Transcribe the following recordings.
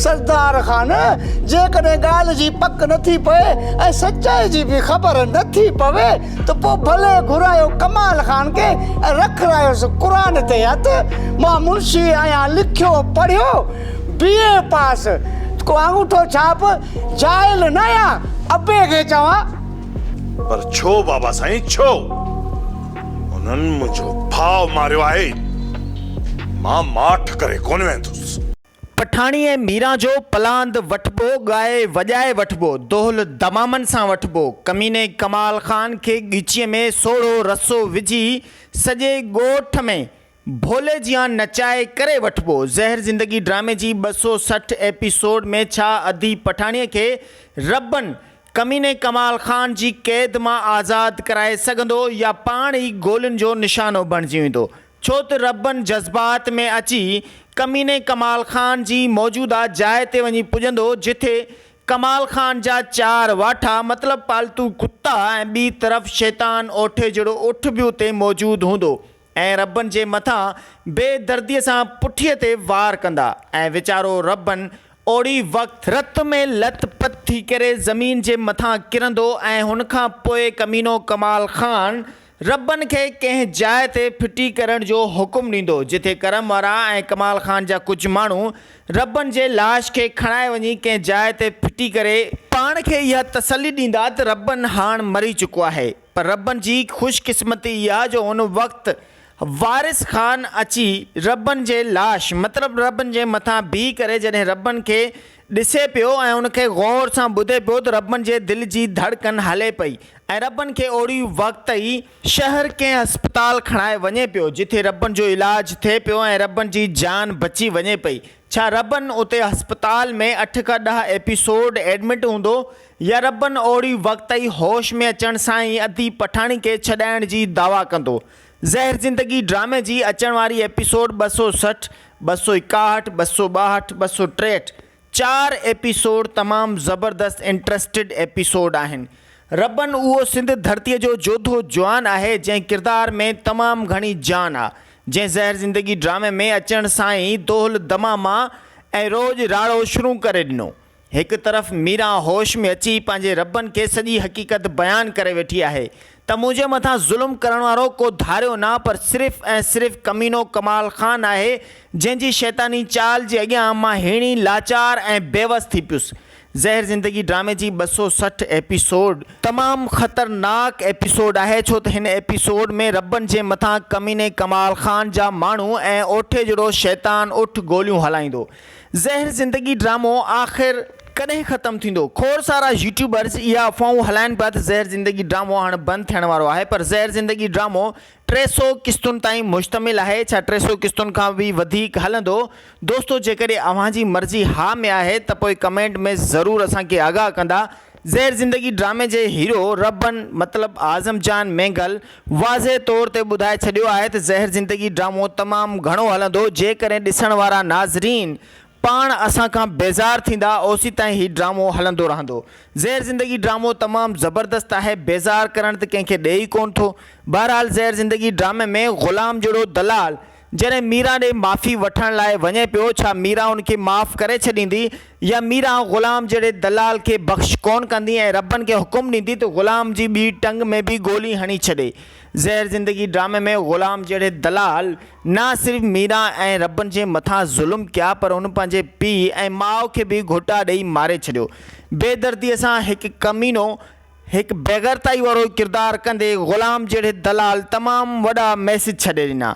سردار خان، جيڪڏهن ڳالهه جي پڪ نه ٿي پئي ۽ سچائي جي به خبر نه ٿي پوي ته پوء ڀلي گهرايو ڪمال خان کي ۽ رکرايوس قرآن تي هٿ. مان منشي آهيان، لکيو پڙهيو، بي اي پاس، ڪو آڱوٺو ڇاپ، جاهل نه آهيان، ابي کي چوان. پر ڇو بابا سائين ڇو؟ انهن منهنجو ڀاء ماريو آهي، مان ماٺ ڪري ڪونه ويندس. پٺاڻي ۽ ميران جو پلاند وٺبو، ڳائي وڄائي وٺبو، دهل دمامن سان وٺبو، ڪميني ڪمال خان کي ڳچيء ۾ سوڙهو رسو وجهي سڄي ڳوٺ ۾ ڀولي جيان نچائي ڪري وٺبو. زهر زندگي ڊرامي جي ٻه سؤ سٺ ايپيسوڊ ۾ ڇا ادي پٺاڻيء کي ربن ڪميني ڪمال خان جي قيد مان آزاد ڪرائي سگهندو يا پاڻ ئي گولين جو نشانو بڻجي ويندو؟ ڇو ته ربن جذبات ۾ اچي ڪميني ڪمال خان جي موجوده جاء تي وڃي پڄندو جتي ڪمال خان جا چار واٺا مطلب پالتو ڪتا ۽ ٻي طرف شيطان اوٺي جهڙو اٺ به اتي موجود هوندو ۽ ربن جي مٿان بي دردي سان پٺي تي وار ڪندا ۽ ويچارو ربن اوڙي وقت رت ۾ لٿ پٿ ٿي ڪري زمين جي مٿان ڪرندو ۽ هن کان پوء ڪمينو ڪمال خان ربن کي ڪنهن جاء تي ڦٽي ڪرڻ جو حڪم ڏيندو، جتي ڪرم وارا ۽ ڪمال خان جا ڪجهه ماڻهو ربن جي لاش کي کڻائي وڃي ڪنهن جاء تي ڦٽي ڪري، پاڻ کي اها تسلي ڏيندا ته ربن هاڻ مري چڪو آهي، پر ربن جي خوش قسمتي اها جو ان وقت وارث خان اچي ربن جي لاش مطلب ربن جي مٿان بيهي ڪري جڏهن ربن کي ڏسي پيو ۽ ان کي غور سان ٻڌي پيو ته ربن جي دل جي ڌڙڪن هلي پئي ۽ ربن کي اوڙي وقت ئي شهر ڪنهن اسپتال کڻائي وڃي پيو جتي ربن جو علاج ٿئي پيو ۽ ربن جي جان بچي وڃي پئي ڇا ربن اتي اسپتال ۾ اٺ کان ڏهه ايپيسوڊ ايڊمٽ هوندو يا ربن اوڙي وقت ئي هوش ۾ اچڻ سان ئي ادي پٺاڻي کي ڇڏائڻ جي دعويٰ ڪندو زهر زندگي ڊرامي جي اچڻ واري ايپيسوڊ ٻه سؤ سٺ، ٻه سؤ ايڪاهٺ، ٻه سؤ ٻاهٺ، ٻه سؤ ٽيهٺ چار ايپيسوڊ تمام زبردست انٽرسٽيڊ ايپيسوڊ آهن. ربن اهو سنڌ ڌرتي جو جوڌو جوان آهي جنهن ڪردار ۾ تمام گهڻي جان آ جنهن زهر زندگي ڊرامي ۾ اچڻ سان ئي دهل دماما ۽ روڄ راڙو شرون ڪري ڏنو. هڪ طرف ميرا هوش ۾ اچي پنهنجي ربن کي سڄي حقيقت بيان ڪري ويٺي آهي ته منهنجي مٿان ظلم ڪرڻ وارو ڪو ڌاريو نه پر صرف ۽ صرف ڪمينو ڪمال خان آهي جنهن جي شيطاني چال جي اڳيان مان هيڻي لاچار ۽ بيوس ٿي پيس. زهر زندگي ڊرامي جي ٻه سؤ سٺ ايپيسوڊ تمام خطرناڪ ايپيسوڊ آهي ڇو ته هن ايپيسوڊ ۾ ربن جي مٿان ڪميني ڪمال خان جا ماڻهو ۽ اوٺي جهڙو شيطان اٺ گوليون هلائيندو زهر زندگي ڊرامو آخر ڪڏهن ختم ٿيندو؟ کوڙ سارا يوٽيوبرز اها افواهون هلائن پيا ته زهر زندگي ڊرامو هاڻ بند ٿيڻ وارو آهي پر زهر زندگي ڊرامو ٽي سؤ قسطن تائين مشتمل آهي ڇا ٽي سؤ قسطن کان به وڌيڪ هلندو دوستو جيڪڏهن اوهان جي مرضي ها ۾ آهي ته پوء ڪمينٽ ۾ ضرور اسان کي آگاهه ڪندا زهر زندگي ڊرامي جي هيرو رهبن مطلب اعظم جان مينگل واضح طور تي ٻڌائي ڇڏيو آهي ته زهر زندگي ڊرامو تمام گهڻو هلندو جيڪڏهن ڏسڻ وارا ناظرين پاڻ اسان کان بيزار ٿيندا اوسيتائين هي ڊرامو هلندو رهندو زهر زندگي ڊرامو تمام زبردست آهي بيزار ڪرڻ ته ڪنهن کي ڏئي ئي ڪونه ٿو بهرحال زهر زندگي ڊرامي ۾ غلام جهڙو دلال جڏهن ميران ڏي معافي وٺڻ لاء وڃي پيو، ڇا ميران ان کي معاف ڪري ڇڏيندي يا ميران غلام جهڙي دلال کي بخش ڪونه ڪندي ۽ ربن کي حڪم ڏيندي ته غلام جي ٻي ٽنگ ۾ به گولي هڻي ڇڏي. زهر زندگي ڊرامي ۾ غلام جهڙي دلال نه صرف ميران ۽ ربن جي مٿان ظلم ڪيا پر هن پنهنجي پيء ۽ ماء کي به گهوٽا ڏئي ماري ڇڏيو. بي دردي سان هڪ ڪمينو هڪ بيغيرتائي وارو ڪردار ڪندي غلام جهڙي دلال تمام وڏا ميسيج ڇڏي ڏنا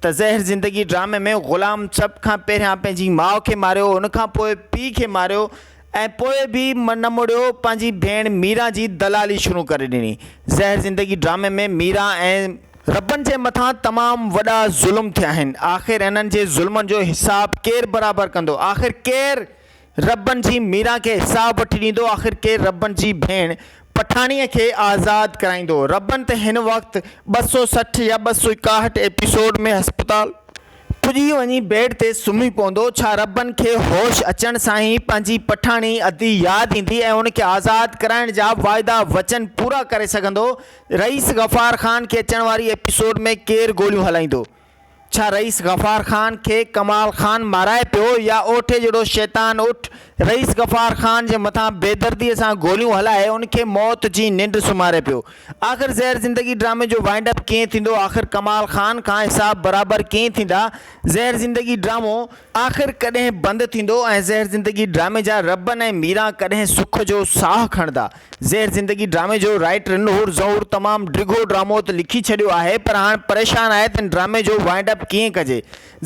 ته زهر زندگي ڊرامي ۾ غلام سڀ کان پهريان پنهنجي ماء کي ماريو ان کان پوء پيء کي ماريو ۽ پوء به نه مڙيو پنهنجي ڀيڻ ميران جي دلالي شروع ڪري ڏني زهر زندگي ڊرامي ۾ ميران ۽ ربن جي مٿان تمام وڏا ظلم ٿيا آهن آخر انهن جي ظلمن جو حساب ڪير برابر ڪندو آخر ڪير. ربن جي ميران کي حساب وٺي ڏيندو آخر ڪير ربن جي ڀيڻ پٺاڻيء کي آزاد ڪرائيندو ربن ته هن وقت ٻه سؤ سٺ يا ٻه سؤ ايڪاهٺ ايپيسوڊ ۾ هسپتال پڄي وڃي بيڊ تي سمهي پوندو ڇا ربن کي هوش اچڻ سان ئي پنهنجي پٺاڻي ادي ياد ايندي ۽ ان کي آزاد ڪرائڻ جا واعدا وچن پورا ڪري سگهندو رئيس غفار خان کي اچڻ واري ايپيسوڊ ۾ ڪير گوليون هلائيندو ڇا رئيس غفار خان کي ڪمال خان مارائي پيو يا اوٺي جهڙو شيطان اٺ رئيس غفار خان جي مٿان بيدردي سان گوليون هلائي ان کي موت جي ننڊ سمهاري پيو؟ آخر زهر زندگي ڊرامي جو وائنڊ اپ ڪيئن ٿيندو آخر ڪمال خان کان حساب برابر ڪيئن ٿيندا زهر زندگي ڊرامو آخر ڪڏهن بند ٿيندو ۽ زهر زندگي ڊرامي جا ربن ۽ ميران ڪڏهن سک جو ساهه کڻندا؟ زهر زندگي ڊرامي جو رائيٽر نحور ظهور تمام ڊگهو ڊرامو ته لکي ڇڏيو آهي پر هاڻ پريشان آهي ته ان ڊرامي جو وائنڊ اپ ڪيئن ڪجي.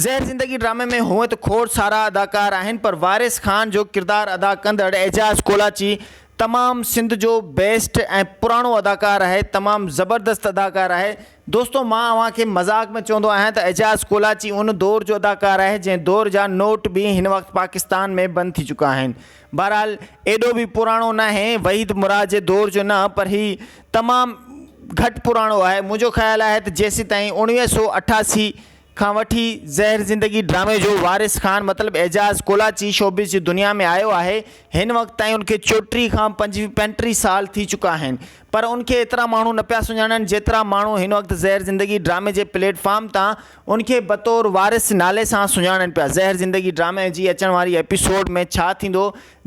زهر زندگي ڊرامي ۾ هونئن ته کوڙ سارا اداڪار آهن پر وارث خان جو ڪردار ادا ڪندڙ اعجاز ڪولاچي تمام سنڌ جو بيسٽ ۽ پراڻو اداڪار آهي تمام زبردست اداڪار آهي دوستو مان اوهان کي مذاق ۾ چوندو آهيان ته اعجاز ڪولاچي ان دور جو اداڪار آهي جنهن دور جا نوٽ به هن وقت پاڪستان ۾ بند ٿي چڪا آهن بهرحال ايڏو به پراڻو ناهي وحيد مراد جي دور جو نه پر هي تمام گهٽ پراڻو آهي منهنجو خيال آهي ته جيسيتائين اڻويهه سؤ اٺاسي کان وٺي زهر زندگي ڊرامي جو وارث خان مطلب اعجاز ڪولاچي شوبز جي دنيا ۾ آيو آهي هن وقت تائين ان کي چوٽيهه کان پنجٽيهه سال ٿي چڪا آهن پر ان کي ايترا ماڻهو نه پيا سڃاڻن جيترا ماڻهو هن وقت زهر زندگي ڊرامي جي پليٽ فارم تان ان کي بطور وارث نالي سان سڃاڻن پيا. زهر زندگي ڊرامي جي اچڻ واري ايپيسوڊ ۾ ڇا ٿيندو؟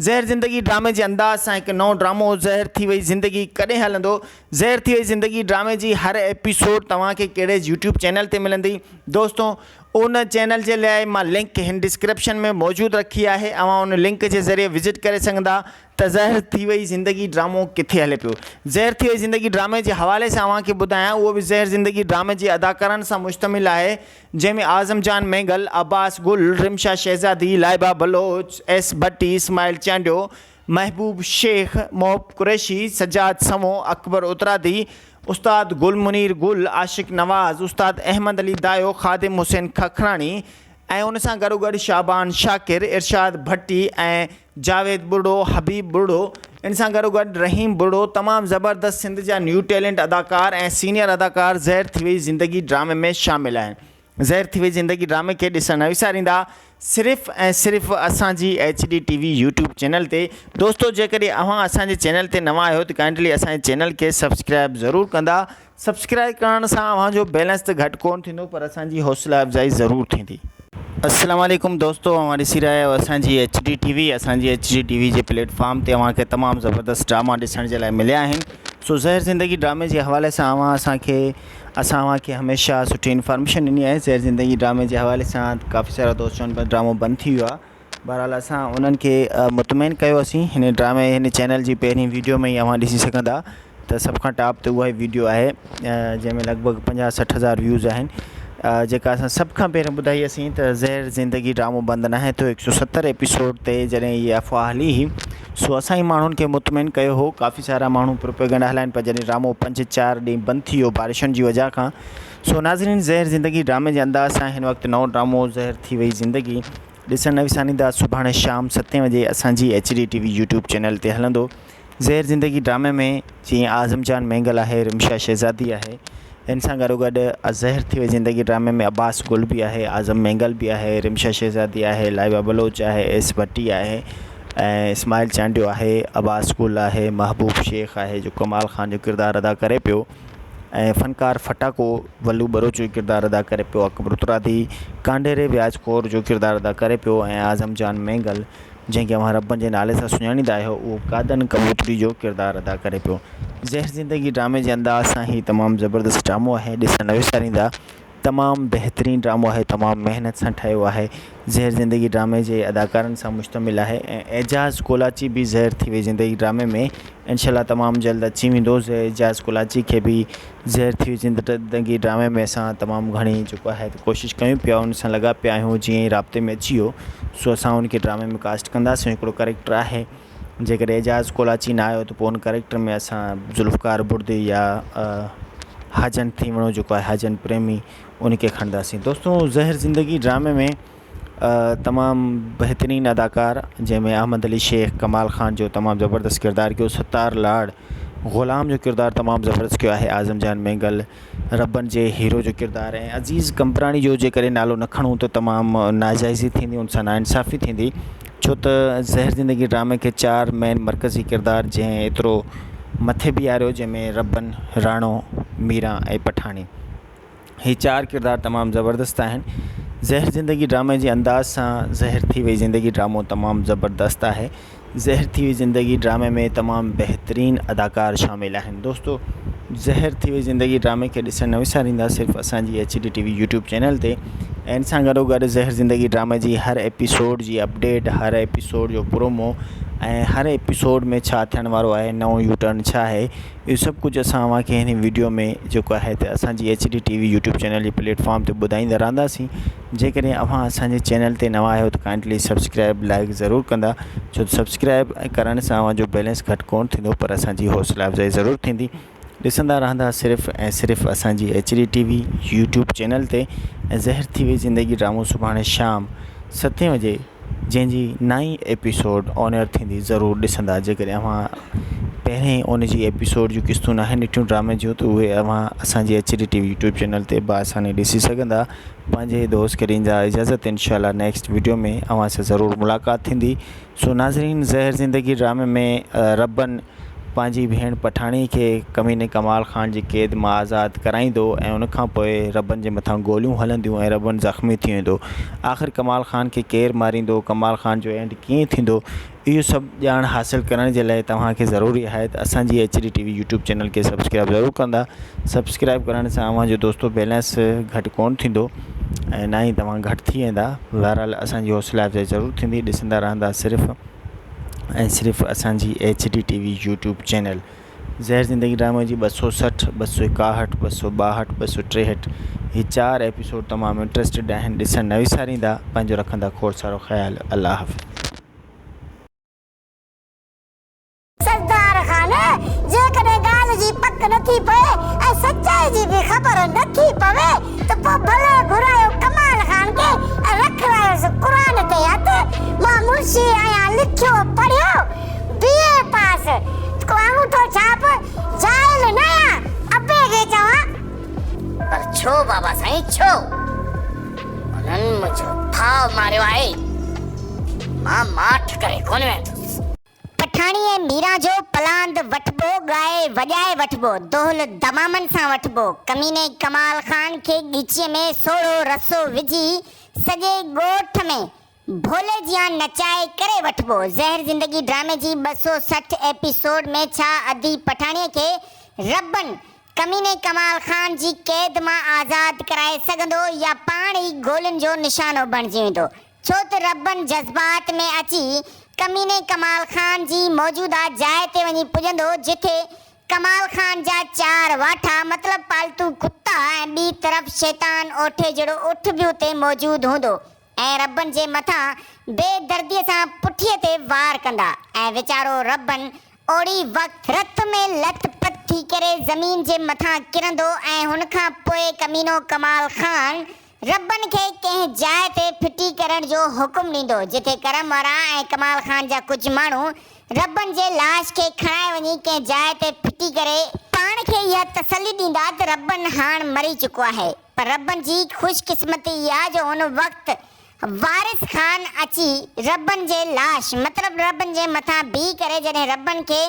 زهر زندگي ڊرامي جي انداز سان هڪ نئون ڊرامو زهر ٿي وئي زندگي ڪڏهن هلندو؟ زهر ٿي وئي زندگي ڊرامي جي هر ايپيسوڊ توهان کي ڪهڙي يوٽيوب چينل تي ملندي؟ دوستو ان چينل جي لاء مان لنڪ هن ڊسڪرپشن ۾ موجود رکي آهي اوهان ان لنڪ جي ذريعي وزٽ ڪري سگهندا ته زهر ٿي وئي زندگي ڊرامو ڪٿي هلي پيو. زهر ٿي وئي زندگي ڊرامي جي حوالي سان اوهان کي ٻڌايان اهو به زهر زندگي ڊرامي جي اداڪارن سان مشتمل آهي جنهن ۾ اعظم جان مينگل، عباس گل، رمشا شهزادي، لائبه بلوچ، ايس ڀٽي، اسماعيل چانڊيو، محبوب شيخ، محب قريشي، سجاد سنئون، اڪبر اترادي، استاد گل منير گل، عاشق نواز، استاد احمد علي دايو، خادم حسين ککراڻي ۽ ان سان گڏوگڏ شعبان شاڪر، ارشاد ڀٽي ۽ جاويد ٻرڙو، حبيب ٻرڙو ان سان گڏوگڏ رحيم ٻرڙو تمام زبردست سنڌ جا نيو ٽيلنٽ اداڪار ۽ سينيئر اداڪار زهر ٿي وئي زندگي ڊرامي ۾ شامل آهن زهر ٿي وئي زندگي ڊرامي کي ڏسڻ نه وساريندا صرف ۽ صرف اسان جي H D T V YouTube channel تي دوستو جيڪڏهن اوهان اسان جي چينل تي نوان آهيو ته ڪائنڊلي اسان جي چينل کي سبسڪرائب ضرور ڪندا سبسڪرائب ڪرڻ سان اوهان جو بيلنس ته گهٽ ڪون ٿيندو پر اسان جي حوصلا افزائي ضرور ٿيندي. السلام عليڪم دوستو اوهان ڏسي رهيا آهيو اسان جي ايڇ ڊي ٽي وي اسان جي ايڇ ڊي ٽي وي جي پليٽ فارم تي اوهان کي تمام زبردست ڊراما ڏسڻ جي لاء مليا آهن سو زهر زندگي ڊرامي جي حوالي سان اوهان اسان کي اسان اوهان کي هميشه سٺي انفارميشن ڏني آهي زهر زندگي ڊرامي جي حوالي سان ڪافي سارا دوست چون پيا ته ڊرامو بند ٿي ويو آهي بهرحال اسان انهن کي مطمئن ڪيو اسين هن ڊرامي هن چينل جي پهرين ويڊيو ۾ ئي اوهان ڏسي سگهندا ته سڀ کان ٽاپ تي اها ئي ويڊيو آهي جنهن ۾ لڳ ڀڳ پنجاهه سٺ هزار ويوز آهن جيڪا اسان سڀ کان پهرين ٻڌائي اسين ته زهر زندگي ڊرامو بند ناهي ٿيو هڪ سو ستر ايپيسوڊ تي جڏهن هي افواهه هلي هئي سو اسان ئي ماڻهن کي مطمئن ڪيو هو ڪافي سارا ماڻهو پروپيگنڊا هلائن پيا جڏهن ڊرامو پنج چار ڏينهن بند ٿي ويو بارشن جي وجهه کان سو ناظرين زهر زندگي ڊرامي جي انداز سان هن وقت نئون ڊرامو زهر ٿي وئي زندگي ڏسڻ نه وساريندا سڀاڻي شام ستين وڄي اسان جي H D T V YouTube channel تي هلندو زهر زندگي ڊرامي ۾ جيئن اعظم جان مينگل آهي رمشا شهزادي آهي ان سان گڏو گڏ زهر ٿي وئي زندگي ڊرامي ۾ عباس گل به آهي اعظم مينگل به آهي رمشا شهزادي آهي لائبا بلوچ آهي ايس ڀٽي آهي ۽ اسماعيل چانڊيو آهي عباس گل آهي محبوب شيخ آهي جو ڪمال خان جو ڪردار ادا ڪري پيو ۽ فنڪار ڦٽاڪو ولو ٻروچ جو ڪردار ادا ڪري پيو، اڪبر اترادي ڪانڍيري وياج خور جو ڪردار ادا ڪري پيو ۽ اعظم جان مينگل جنهن کي اوهان ربن جي نالي سان سڃاڻيندا آهيو اهو قادن ڪبوتري جو ڪردار ادا ڪري پيو. زهر زندگي ڊرامي جي انداز سان هي تمام زبردست ڊرامو آهي ڏسڻ نه وساريندا تمام بهترين ڊرامو آهي تمام محنت سان ٺهيو آهي زهر زندگي ڊرامي جي اداڪارن سان مشتمل آهي ۽ اعجاز ڪولاچي به زهر ٿي وئي زندگي ڊرامي ۾ انشاء الله تمام جلد اچي ويندو اعجاز ڪولاچي کي به زهر ٿي وئي زندگي ڊرامي ۾ اسان تمام گهڻي جيڪو آهي ڪوشش ڪيون پيا ان سان لڳا پيا آهيون جيئن ئي رابطي ۾ اچي ويو سو اسان ان کي ڊرامي ۾ ڪاسٽ ڪنداسين هڪڙو ڪريڪٽر آهي جيڪڏهن اعجاز ڪولاچي نه آيو ته پوء ان ڪريڪٽر ۾ اسان ذوالفقار بڙدي يا هاجن ٿيوڻو جيڪو آهي هاجن پريمي ان کي کڻنداسين دوستو زهر زندگي ڊرامي ۾ تمام بهترين اداڪار جنهن ۾ احمد علي شيخ ڪمال خان جو تمام زبردست ڪردار ڪيو ستار لاڙ غلام جو ڪردار تمام زبردست ڪيو آهي اعظم جان مينگل ربن جي هيرو جو ڪردار ۽ عزيز قمبراڻي جو جيڪڏهن نالو نه کڻون ته تمام ناجائزي ٿيندي ان سان ناانصافي ٿيندي ڇو ته زهر زندگي ڊرامي کي چار مين مرڪزي ڪردار جنهن ايترو مٿي بيهاريو جنهن ۾ ربن راڻو ميران ۽ پٺاڻي هي چار ڪردار تمام زبردست آهن زهر زندگي ڊرامي جي انداز سان زهر ٿي وئي زندگي ڊرامو تمام زبردست آهي زهر ٿي وئي زندگي ڊرامي ۾ تمام بهترين اداڪار شامل آهن دوستو زهر ٿي وئي زندگي ڊرامي کي ڏسڻ نه وساريندا صرف اسان جي H D T V YouTube channel تي ان سان گڏو گڏ زهر زندگي ڊرامي جي هر ايپيسوڊ جي اپڊيٽ هر ايپيسوڊ جو پرومو ۽ هر ايپيسوڊ ۾ ڇا ٿيڻ وارو آهي نئون يو ٽرن ڇا آهي اهو سڀ ڪجهه اسان اوهان کي هن ويڊيو ۾ جيڪو آهي ته اسان جي H D T V YouTube channel جي پليٽفارم تي ٻڌائيندا رهنداسين جيڪڏهن اوهان اسان جي چينل تي نوان آهيو ته ڪائنڊلي سبسڪرائب لائڪ ضرور ڪندا ڇو ته سبسڪرائب ڪرڻ سان اوهان جو بيلنس گهٽ ڪونه ٿيندو پر اسان جي حوصلا افزائي ضرور ٿيندي ڏسندا رهندا صرف ۽ صرف اسان جي H D T V YouTube channel تي ۽ زهر ٿي وئي زندگي ڊرامو سڀاڻي شام ستين وجي جنهن جي نائين ايپيسوڊ آن ايئر ٿيندي ضرور ڏسندا جيڪڏهن اوهان پهرين ان جي ايپيسوڊ جون قسطون ناهن ڏٺيون ڊرامي جون ته اهي اوهان اسان جي H D T V YouTube channel تي بآساني ڏسي سگهندا پنهنجي دوست ڪريم جا اجازت انشاء الله نيڪسٽ ويڊيو ۾ اوهان سان ضرور ملاقات ٿيندي سو ناظرين زهر زندگي ڊرامي ۾ ربن پنهنجي ڀيڻ پٺاڻي کي ڪميني ڪمال خان جي قيد مان آزاد ڪرائيندو ۽ ان کان پوء ربن جي مٿان گوليون هلنديون ۽ ربن زخمي ٿي ويندو آخر ڪمال خان کي ڪير ماريندو ڪمال خان جو اينڊ ڪيئن ٿيندو اهو سڀ ڄاڻ حاصل ڪرڻ جي لاء توهان کي ضروري آهي ته اسان جي H D T V YouTube channel کي سبسڪرائب ضرور ڪندا سبسڪرائب ڪرڻ سان اوهان جو دوستو بيلنس گهٽ ڪون ٿيندو ۽ نه ئي توهان گهٽ ٿي ويندا بهرحال اسان جي حوصلا افزائي ضرور ٿيندي ڏسندا رهندا صرف ۽ صرف اسان جي H D T V YouTube channel Zehar Zindagi ڊرامي جي ٻه سؤ سٺ، ٻه سؤ ايڪاهٺ، ٻه سؤ ٻاهٺ، ٻه سؤ ٽيهٺ هي چار ايپيسوڊ تمام انٽريسٽيڊ آهن ڏسڻ نه وساريندا پنهنجو رکندا کوڙ سارو خيال الله حافظ. سردار خان جيڪڏهن ڳالهه جي پڪ نه ٿي پئي ۽ سچائي جي به خبر نه ٿي پوي ته پوء ڀلي گهرايو ڪمال خان کي ۽ رکرايوس قرآن تي هٿ مان منشي آهيان لکيو پڙهيو بي اي پاس ڪو انگوٺو ڇاپ جاهل نه يا ابي کي چوان. پر ڇو بابا سائين ڇو؟ انهن منهنجو ڦاء ماريو آهي. مان ماٺ ڪري ڪونه ويهندس. پٺاڻي ۽ ميران جو پلاند وٺبو، ڳائي وڄائي وٺبو، دهل دمامن سان وٺبو، ڪميني ڪمال خان کي ڳچيء ۾ سوڙهو رسو وجهي سڄي ڳوٺ ۾ ڀولي جيان نچائي ڪري وٺبو. زهر زندگي ڊرامي جي ٻه سؤ سٺ ايپيسوڊ ۾ ڇا ادي پٺاڻيء کي ربن ڪميني ڪمال خان جي قيد مان آزاد ڪرائي سگهندو يا پاڻ ئي گولين جو نشانو بڻجي ويندو ڇو ته ربن جذبات ۾ اچي ڪميني ڪمال خان جي موجوده جاء تي وڃي پڄندو جتي ڪمال خان جا چار واٺا مطلب پالتو ڪتا ۽ ٻي طرف شيطان اوٺي جهڙو اٺ به اتي موجود هوندو ۽ ربن جي مٿان بي درديء سان پٺيء تي وار ڪندا ۽ ويچارو ربن اوڙي وقت رت ۾ لٿ پٿ ٿي ڪري زمين جي مٿان ڪرندو ۽ هن کان پوء ڪمينو ڪمال خان ربن کي ڪنهن جاء تي ڦٽي ڪرڻ جو حڪم ڏيندو جتي ڪرم وارا ۽ ڪمال خان جا ڪجهه ماڻهو ربن جي لاش کي کڻائي وڃي ڪنهن جاء تي ڦٽي ڪري پاڻ کي اها تسلي ڏيندا ته ربن هاڻ مري چڪو آهي. پر رب جي خوش قسمتي اها جو ان وقت وارث خان اچي رب جي لاش مطلب رب جي مٿان بيهي ڪري جڏهن رب کي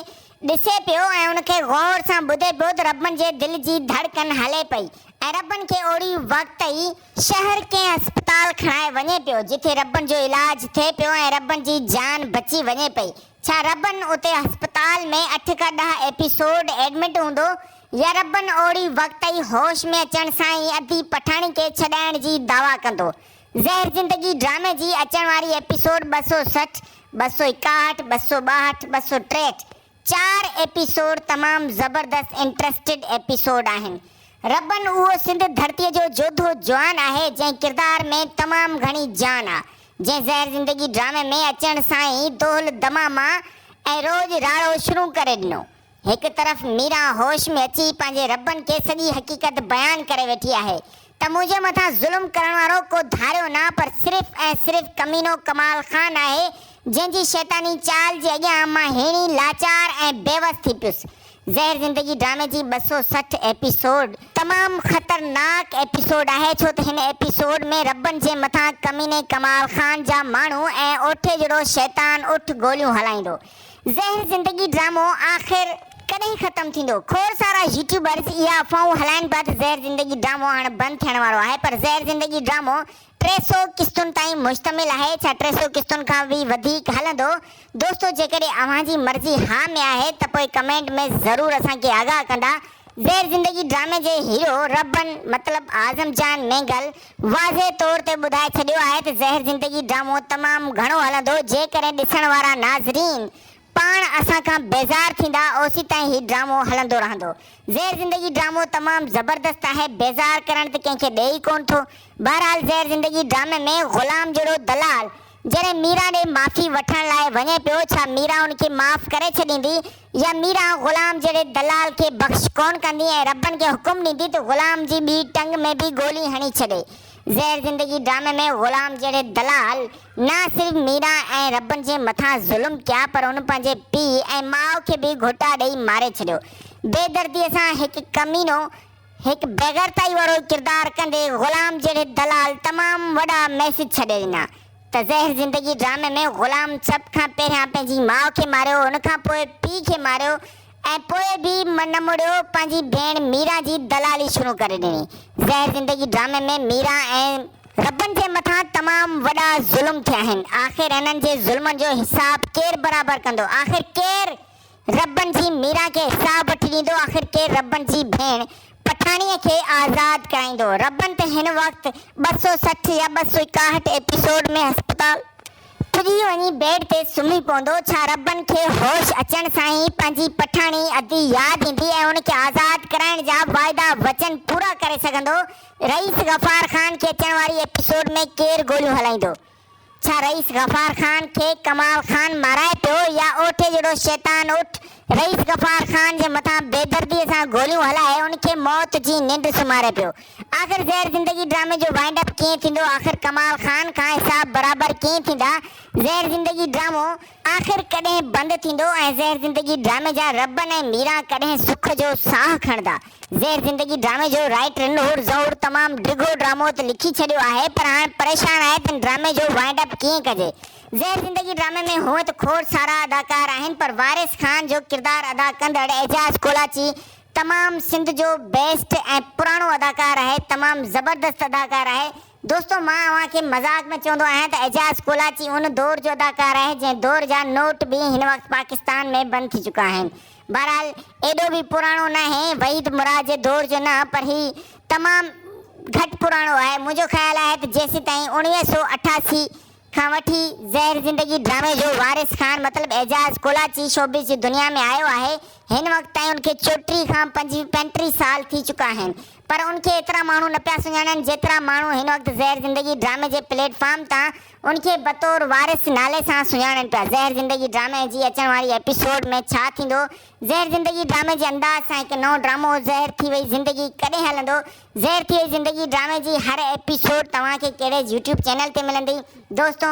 ڏسي پيو ۽ ان کي غور سان ٻڌي پيو ته رب جي دل جي ڌڙڪن هلي پئي ۽ رب کي اوڙي وقت ئي شهر ڪنهن اسپتال کڻائي وڃي پيو جتي رب جو علاج ٿئي پيو ۽ رب جي جان بچي وڃي پئي ڇا رب اتي اسپتال ۾ اٺ کان ڏهه ايپيسوڊ ايڊمٽ هوندو ياربن اوڙي وقت ئي هوش ۾ اچڻ سان ئي اديب پٺاڻي کي ڇڏائڻ جي دعويٰ ڪندو. زهر زندگي ڊرامي جي اچڻ واري ايپيسوڊ ٻه سؤ سٺ، ٻه سؤ ايڪاهٺ، ٻه سؤ ٻاهٺ، ٻه سؤ ٽيهٺ چار ايپيسوڊ تمام زبردست انٽرسٽيڊ ايپيسوڊ آهن. ربن اهو سنڌ ڌرتي جو جوڌو جوان آهي جنهن ڪردار ۾ تمام گهڻي جان آ جنهن زهر زندگي ڊرامي ۾ اچڻ سان ئي دهل دماما ۽ روڄ راڙو شروع ڪري ڏنو. هڪ طرف ميرا هوش ۾ اچي پنهنجي ربن کي سڄي حقيقت بيان ڪري ويٺي آهي ته منهنجي مٿان ظلم ڪرڻ وارو ڪو ڌاريو نه پر صرف ۽ صرف ڪمينو ڪمال خان آهي جنهن جي شيطاني چال جي اڳيان مان هيڻي لاچار ۽ بيوس ٿي پيس. زهر زندگي ڊرامي جي ٻه سؤ سٺ ايپيسوڊ تمام خطرناڪ ايپيسوڊ آهي ڇو ته هن ايپيسوڊ ۾ ربن جي مٿان ڪميني ڪمال خان جا ماڻهو ۽ اوٺي جهڙو شيطان اٺ گوليون هلائيندو زهر زندگي ڊرامو آخر ڪڏهن ختم ٿيندو؟ کوڙ سارا يوٽيوبرز اها افواهون هلائن پيا ته زهر زندگي ڊرامو هاڻ بند ٿيڻ وارو آهي پر زهر زندگي ڊرامو ٽي سؤ قسطن تائين مشتمل آهي ڇا ٽي سؤ قسطن کان به وڌيڪ هلندو؟ دوستو جيڪڏهن اوهان جي مرضي ها ۾ آهي ته پوء ڪمينٽ ۾ ضرور اسان کي آگاهه ڪندا زهر زندگي ڊرامي جي هيرو رهبن مطلب اعظم جان مينگل واضح طور تي ٻڌائي ڇڏيو آهي ته زهر زندگي ڊرامو تمام گهڻو هلندو جيڪڏهن ڏسڻ وارا ناظرين پاڻ اسان کان بيزار ٿيندا اوسيتائين هي ڊرامو هلندو رهندو زهر زندگي ڊرامو تمام زبردست آهي بيزار ڪرڻ ته ڪنهن کي ڏئي ئي ڪونه ٿو بهرحال زهر زندگي ڊرامي ۾ غلام جهڙو دلال جڏهن ميرا ڏي معافي وٺڻ لاء وڃي پيو، ڇا ميرا ان کي معاف ڪري ڇڏيندي؟ يا ميرا غلام جهڙي دلال کي بخش ڪونه ڪندي ۽ ربن کي حڪم ڏيندي ته غلام جي ٻي ٽنگ ۾ به گولي هڻي ڇڏي. زهر زندگي ڊرامي ۾ غلام جهڙي دلال نه صرف ميرا ۽ ربن جي مٿان ظلم ڪيا پر هن پنهنجي پيء ۽ ماء کي به گهوٽا ڏئي ماري ڇڏيو. بي درديء سان هڪ ڪمينو، هڪ بيغيرتائي وارو ڪردار ڪندي غلام جهڙي دلال تمام وڏا ميسيج ڇڏي ڏنا ته زهر زندگي ڊرامي ۾ غلام سڀ کان پهريان پنهنجي ماء کي ماريو ان کان پوء پيء کي ماريو ۽ پوء به نه مڙيو پنهنجي ڀيڻ ميران جي دلالي شروع ڪري ڏني زهر زندگي ڊرامي ۾ ميران ۽ ربن جي مٿان تمام وڏا ظلم ٿيا آهن آخر انهن جي ظلمن جو حساب ڪير برابر ڪندو آخر ڪير ربڻ جي ميران کي ساهه بٺي ڏيندو، آخر ڪير ربڻ جي ڀيڻ پٺاڻيء کي آزاد ڪرائيندو؟ ربڻ ته هن وقت ٻه سؤ سٺ يا ٻه سؤ ايڪاهٺ ايپيسوڊ ۾ هسپتال پڄي وڃي بيڊ تي سمهي پوندو، ڇا ربڻ کي هوش اچڻ سان ئي پنهنجي پٺاڻي ادي ياد ايندي ۽ هن کي آزاد ڪرائڻ جا واعدا وچن پورا ڪري سگهندو؟ رئيس غفار خان کي اچڻ واري ايپيسوڊ ۾ ڪير گوليون هلائيندو؟ ڇا رئيس غفار خان کي ڪمال خان مارائي پيو يا اوٺي جهڙو شيطان اٺ رئيس غفار خان جي مٿان بيدردي سان گوليون هلائي ان کي موت جي ننڊ سمهاري پيو. آخر زهر زندگي ڊرامي جو وائنڊ اپ ڪيئن ٿيندو آخر ڪمال خان کان حساب برابر ڪيئن ٿيندا زهر زندگي ڊرامو آخر ڪڏهن بند ٿيندو ۽ زهر زندگي ڊرامي جا ربن ۽ ميران ڪڏهن سک جو ساهه کڻندا. زهر زندگي ڊرامي جو رائٽر نحور زهور تمام ڊگهو ڊرامو ته لکي ڇڏيو آهي پر هاڻ پريشان آهي ته ان ڊرامي جو وائنڊ اپ ڪيئن ڪجي. زهر زندگي ڊرامي ۾ هونء ته کوڙ سارا اداڪار آهن پر وارث خان جو ڪردار ادا ڪندڙ اعجاز ڪولاچي تمام سنڌ جو بيسٽ ۽ پراڻو اداڪار آهي تمام زبردست اداڪار آهي دوستو مان اوهان کي مذاق ۾ چوندو آهيان ته اعجاز ڪولاچي ان دور جو اداڪار آهي جنهن دور جا نوٽ به هن وقت پاڪستان ۾ بند ٿي چڪا آهن. بهرحال ايڏو به پراڻو ناهي وحيد مراد جي دور جو نه پر هي تمام گهٽ پراڻو آهي منهنجو خيال آهي ته جيسيتائين اوڻويهه سؤ اٺاسي کان وٺي زهر زندگي ڊرامي جو وارث خان مطلب اعجاز ڪولاچي شوبز جي دنيا ۾ آيو آهي هن وقت تائين ان کي چوٽيهه کان پنجٽيهه سال ٿي چڪا آهن پر ان کي ايترا ماڻهو نه پيا سڃاڻن جيترا ماڻهو هن وقت زهر زندگي ڊرامي جي پليٽ فارم تان ان کي بطور وارث نالي سان سڃاڻن پيا زهر زندگي ڊرامي جي اچڻ واري ايپيسوڊ ۾ ڇا ٿيندو زهر زندگي ڊرامي جي انداز سان هڪ نئون ڊرامو زهر ٿي وئي زندگي ڪڏهن هلندو زهر ٿئي زندگي ڊرامي جي هر ايپيسوڊ توهان کي ڪهڙي يوٽيوب چينل تي ملندي دوستو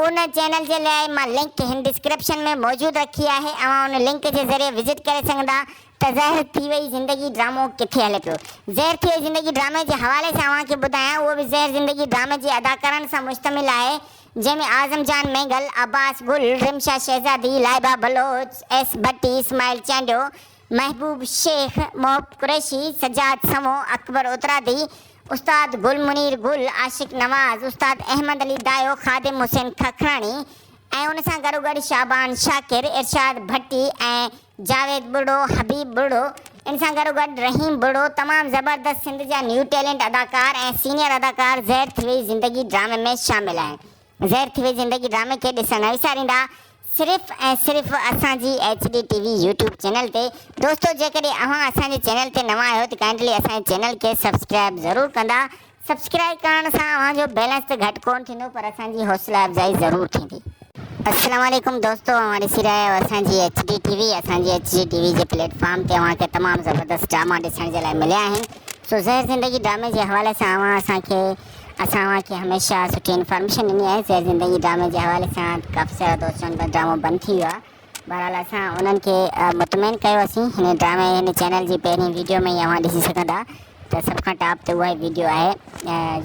ان چينل جي لاء مان لنڪ هن ڊسڪرپشن ۾ موجود رکي آهي اوهان ان لنڪ جي ذريعي وزٽ ڪري سگهندا ته زهر ٿي وئي زندگي ڊرامو ڪٿي هلي پيو زهر ٿي وئي زندگي ڊرامي جي حوالي سان اوهان کي ٻڌايان اهو به زهر زندگي ڊرامي جي اداڪارن سان مشتمل آهي جنهن ۾ اعظم جان مينگل، عباس گل، رمشا شهزادي، لائبه بلوچ، ايس ڀٽي، اسماعيل چانڊيو، محبوب شيخ، محب قريشي، سجاد سمو، اڪبر اترادي، استاد گل منير گل، عاشق نواز، استاد احمد علي دايو، خادم حسين ککراڻي ۽ ان سان گڏوگڏ شعبان شاڪر، ارشاد ڀٽي ۽ جاويد ٻرڙو، حبيب ٻرڙو، ان سان گڏوگڏ رحيم ٻرڙو، تمام زبردست سنڌ جا نيو ٽيلنٽ اداڪار ۽ سينيئر اداڪار زهر ٿي وئي زندگي ڊرامي ۾ شامل آهن زهر ٿي وئي زندگي ڊرامي کي ڏسڻ نه وساريندا. صرف ۽ صرف اسان جي H D T V YouTube channel تي دوستو جيڪڏهن اوهان اسان جي چينل تي نوان آهيو ته ڪائنڊلي اسان جي چينل کي سبسڪرائب ضرور ڪندا سبسڪرائب ڪرڻ سان اوهان جو بيلنس ته گهٽ ڪون ٿيندو پر اسان جي حوصلا افزائي ضرور ٿيندي. السلام عليڪم دوستو اوهان ڏسي رهيا آهيو اسان جي ايڇ ڊي ٽي وي اسان جي ايڇ ڊي ٽي وي جي پليٽ فارم تي اوهان کي تمام زبردست ڊراما ڏسڻ جي لاء مليا آهن سو زهر زندگي ڊرامي جي حوالي سان اوهان اسان کي اسان اوهان کي هميشه سٺي انفارميشن ڏني آهي سير زندگي ڊرامي جي حوالي سان ڪافي سارا دوست چون ته ڊرامو بند ٿي ويو آهي بهرحال اسان انهن کي مطمئن ڪيو اسين هن ڊرامي هن چينل جي پهرين ويڊيو ۾ ئي اوهان ڏسي سگهندا ته سڀ کان ٽاپ تي اها ويڊيو آهي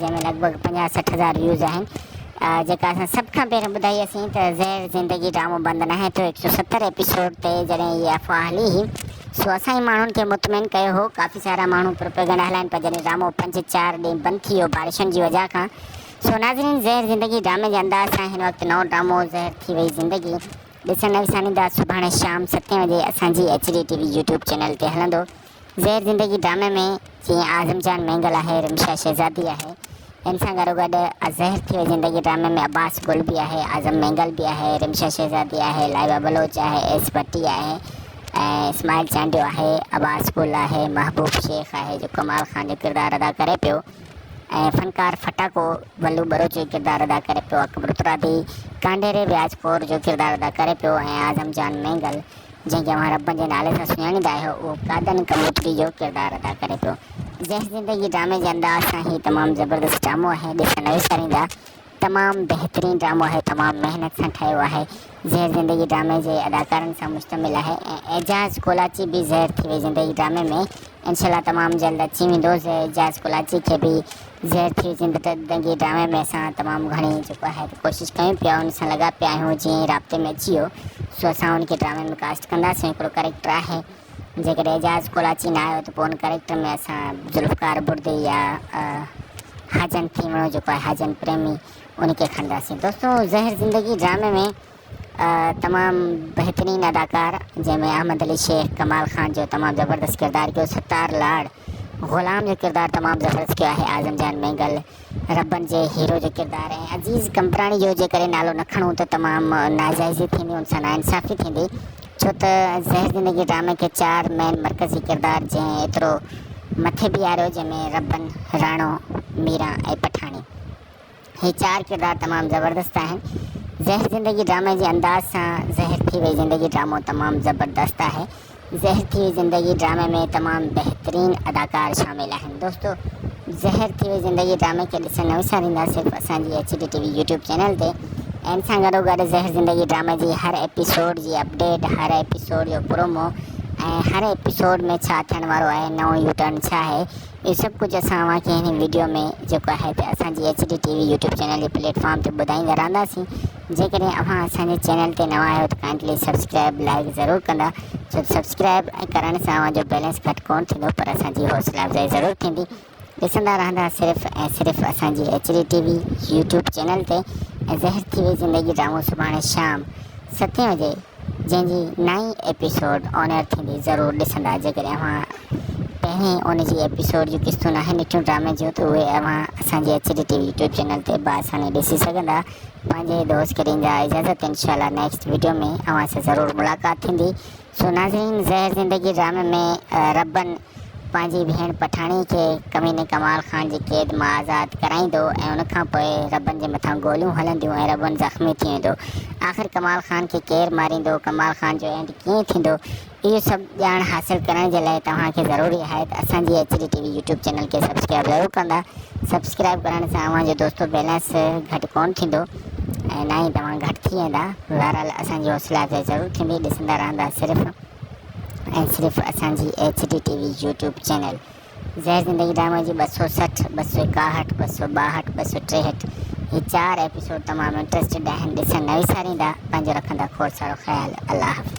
جنهن ۾ لڳ ڀڳ پنجاهه سٺ هزار ويوز آهن جيڪا اسان سڀ کان پهرين ٻڌائي اسين ته زهر زندگي ڊرامو بند ناهي ٿيو هڪ سو ستر ايپيسوڊ تي جڏهن هي افواهه هلي هئي سو اسانئي ماڻهن کي مطمئن ڪيو هو ڪافي سارا ماڻهو پروپيگنڊا هلائن پيا جڏهن ڊرامو پنج چار ڏينهن بند ٿي ويو بارشن جي وجه کان سو ناظرين زهر زندگي ڊرامي جي انداز سان هن وقت نئون ڊرامو زهر ٿي وئي زندگي ڏسڻ نه وساريندا سڀاڻي شام ستين وڄي اسانجي H D T V YouTube channel تي هلندو زهر زندگي ڊرامي ۾ جيئن اعظم جان مينگل آهي، رمشا شهزادي آهي، ان سان گڏوگڏ زهر ٿي وئي زندگي ڊرامي ۾ عباس گل به آهي، اعظم مينگل به آهي، رمشا شهزادي آهي، لائبه بلوچ آهي، ايس ڀٽي آهي ۽ اسماعيل چانڊيو آهي، عباس گل آهي، محبوب شيخ آهي جو ڪمال خان جو ڪردار ادا ڪري پيو ۽ فنڪار ڦٽاڪو بلو بروچ جو ڪردار ادا ڪري پيو، اڪبر ترابي ڪانڊيري وياج ڪور جو ڪردار ادا ڪري پيو ۽ اعظم جان مينگل جنهن کي اوهان ربن جي نالي سان سڃاڻيندا آهيو، اهو قادن ڪبوتري جو ڪردار ادا ڪري پيو. جنهن زندگي ڊرامي جي انداز سان هي تمام زبردست ڊرامو آهي ڏسڻ نه وساريندا. تمام بهترين ڊرامو آهي تمام محنت سان ٺهيو آهي. زهر زندگي ڊرامي جي اداڪارن سان مشتمل آهي ۽ اعجاز ڪولاچي به زهر ٿي وئي زندگي ڊرامي ۾ انشاء الله تمام جلد اچي ويندو زهر اعجاز ڪولاچي کي به زهر ٿي زنده تد دنگي ڊرامي ۾ اسان تمام گهڻي جيڪو آهي ڪوشش ڪيون پيا ان سان لڳا پيا آهيون جيئن ئي رابطي ۾ اچي ويو سو اسان ان کي ڊرامي ۾ ڪاسٽ ڪنداسين هڪڙو ڪريڪٽر آهي جيڪڏهن اعجاز ڪولاچي نه آيو ته پوء ان ڪريڪٽر ۾ اسان ذوالفقار بردي يا حاجن ٿيمڻو جيڪو آهي حاجن پريمي ان کي کڻنداسين دوستو زهر زندگي ڊرامي ۾ تمام بهترين اداڪار جنهن ۾ احمد علي شيخ ڪمال خان جو تمام زبردست ڪردار ڪيو ستار لاڙ غلام جو ڪردار تمام زبردست ڪيو آهي اعظم جان مينگل ربن جي هيرو جو ڪردار ۽ عزيز قمبراڻي جو جي ڪري نالو نه کڻون ته تمام ناجائزي ٿيندي ان سان ناانصافي ٿيندي ڇو ته زهر زندگي ڊرامي کي چار مين مرڪزي ڪردار جنهن ايترو مٿي بيهاريو جنهن ۾ ربن راڻو ميران ۽ پٺاڻي هي چار ڪردار تمام زبردست آهن زهر زندگي ڊرامي جي انداز سان زهر ٿي وئي زندگي ڊرامو تمام زبردست آهي زهر ٿي وئي زندگي ڊرامي ۾ تمام بهترين اداڪار شامل آهن دوستو زهر ٿي وئي زندگي ڊرامي کي ڏسڻ نه وساريندا صرف اسان جي H D T V YouTube channel تي ان سان گڏو گڏ زهر زندگي ڊرامي جي هر ايپيسوڊ جي اپڊيٽ هر ايپيسوڊ جو پرومو ۽ هر ايپيسوڊ ۾ ڇا ٿيڻ وارو آهي نئون يوٽرن ڇا آهي هي سڀ ڪجهه اسان اوهان کي هن وڊيو ۾ جيڪو آهي ته اسان جي H D T V YouTube channel جي پليٽ فارم تي ٻڌائيندا رهنداسين جيڪڏهن اوهان اسان جي چينل تي نوان آهيو ته ڪائنڊلي سبسڪرائب لائڪ ضرور ڪندا ڇو سبسڪرائب ۽ ڪرڻ سان اوهان جو بيلنس گهٽ ڪون ٿيندو پر اسان جي حوصلا افزائي ضرور ٿيندي ڏسندا رهندا صرف ۽ صرف اسان جي H D T V YouTube channel تي ۽ زهر ٿي وئي زندگي ڊرامو سڀاڻي شام ستين بجي جنهن جي نائين ايپيسوڊ آن ايئر ٿيندي ضرور ڏسندا جيڪڏهن اوهان تنهن ان جي ايپيسوڊ جون قسطون آهن نٽيون ڊرامي جون ته اهي اوهان اسان جي H D T V YouTube channel تي بآساني ڏسي سگهندا پنهنجي دوست کي ڏيندا اجازت انشاء الله نيڪسٽ ويڊيو ۾ اوهان سان ضرور ملاقات ٿيندي سو ناظرين زهر زندگي ڊرامي ۾ ربن پنهنجي ڀيڻ پٺاڻي کي ڪميني ڪمال خان جي قيد مان آزاد ڪرائيندو ۽ ان کان پوء ربن جي مٿان گوليون هلنديون ۽ ربن زخمي ٿي ويندو آخر ڪمال خان کي ڪير ماريندو ڪمال خان جو اينڊ ڪيئن ٿيندو اهي سڀ ڄاڻ حاصل ڪرڻ جي لاء توهان کي ضروري آهي ته اسان جي H D T V YouTube channel کي سبسڪرائيب ضرور ڪندا سبسڪرائيب ڪرڻ سان اوهان جو دوستو بيلنس گهٽ ڪون ٿيندو ۽ نه ئي توهان گهٽ ٿي ويندا بهرحال اسان جي حوصلا افزائي ضرور ٿيندي ڏسندا رهندا صرف ۽ صرف اسان جي H D T V YouTube channel Zehar Zindagi ڊرامي جي ٻه سؤ سٺ، ٻه سؤ ايڪاهٺ، ٻه سؤ ٻاهٺ، ٻه سؤ ٽيهٺ هي چار ايپيسوڊ تمام انٽرسٽيڊ آهن ڏسڻ نه وساريندا پنهنجو رکندا کوڙ سارو خيال الله حافظ.